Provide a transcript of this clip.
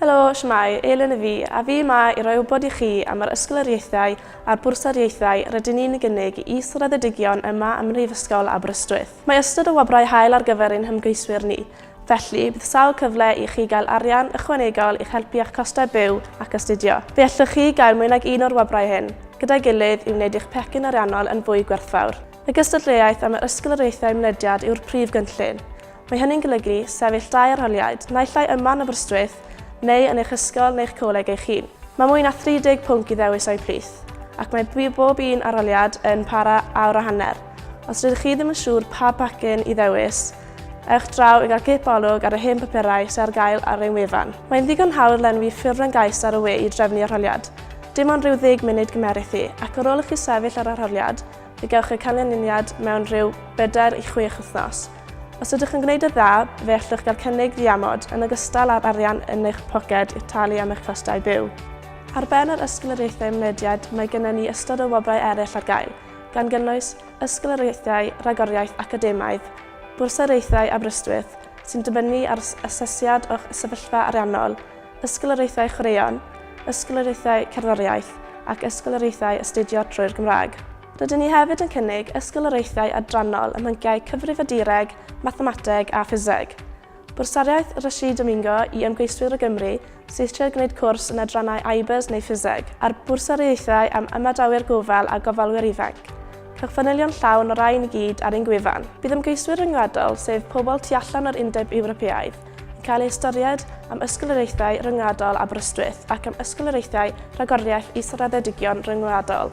Helo, shwmae, Elin y fi, a fi yma i roi wybod i chi am yr ysgoloriaethau a'r bwrsariaethau rydyn ni'n ei gynnig i is-raddedigion yma ym Mhrifysgol Aberystwyth. Mae ystod o wobrau hael ar gyfer ein hymgeiswyr ni, felly bydd sawl cyfle i chi gael arian ychwanegol i'ch helpu â'ch costau byw ac astudio. Fe allwch chi gael mwy nag un o'r wobrau hyn, gyda'i gilydd, i wneud eich pecyn ariannol yn fwy gwerthfawr. Y gystadleuaeth am yr ysgoloriaethau mynediad yw'r prif gynllun, Mae hynny'n golygu sefyll dau arholiad, naill ai yma yn Aberystwyth neu yn eich ysgol neu'ch coleg eich hun. Mae mwy na 30 pwnc i ddewis o'u plith, ac mae bob un arholiad yn para awr a hanner. Os rydych chi ddim yn siŵr pa bacin i ddewis, ewch draw i gael cip olwg ar y hen bapurau sy'n ar gael ar ein wefan. Mae'n ddigon hawdd lenwi ffurflen gais ar y we i drefnu arholiad. Dim ond rhyw ddeg munud gymerith hi, ac ar ôl i chi sefyll ar arholiad, fe gewch y canlyniad mewn rhyw bedair i chwech wythnos. Os ydych yn gwneud y dda, fe allwch gael cynnig ddiamod yn ogystal â'r arian yn eich poced i'ch talu am eich costau byw. Ar ben yr ysgoloriaethau mynediad mae gennym ni ystod o wobrau eraill ar gael, gan gynnwys ysgoloriaethau rhagoriaeth academaidd, bwrsariaethau Aberystwyth sy'n dibynnu ar asesiad o'ch sefyllfa ariannol, ysgoloriaethau chwaraeon, ysgoloriaethau cerddoriaeth ac ysgoloriaethau astudio trwy'r Gymraeg. Rydyn ni hefyd yn cynnig ysgoloriaethau adrannol ym mhynciau Cyfrifiadureg, Mathemateg a Ffiseg. Bwrsariaeth Rashid Domingo i ymgeiswyr o Gymru sydd eisiau gwneud cwrs yn adrannau IBERS neu Ffiseg, a'r bwrsariaethau am Ymadawyr Gofal a Gofalwyr Ifanc. Cewch fanylion llawn o'r rhain i gyd ar ein gwefan. Bydd ymgeiswyr ryngwladol, sef pobl tu allan o'r Undeb Ewropeaidd, yn cael eu hystyried am ysgoloriaethau ryngwladol Aberystwyth ac am ysgoloriaethau Rhagoriaeth Israddedigion Ryngwladol.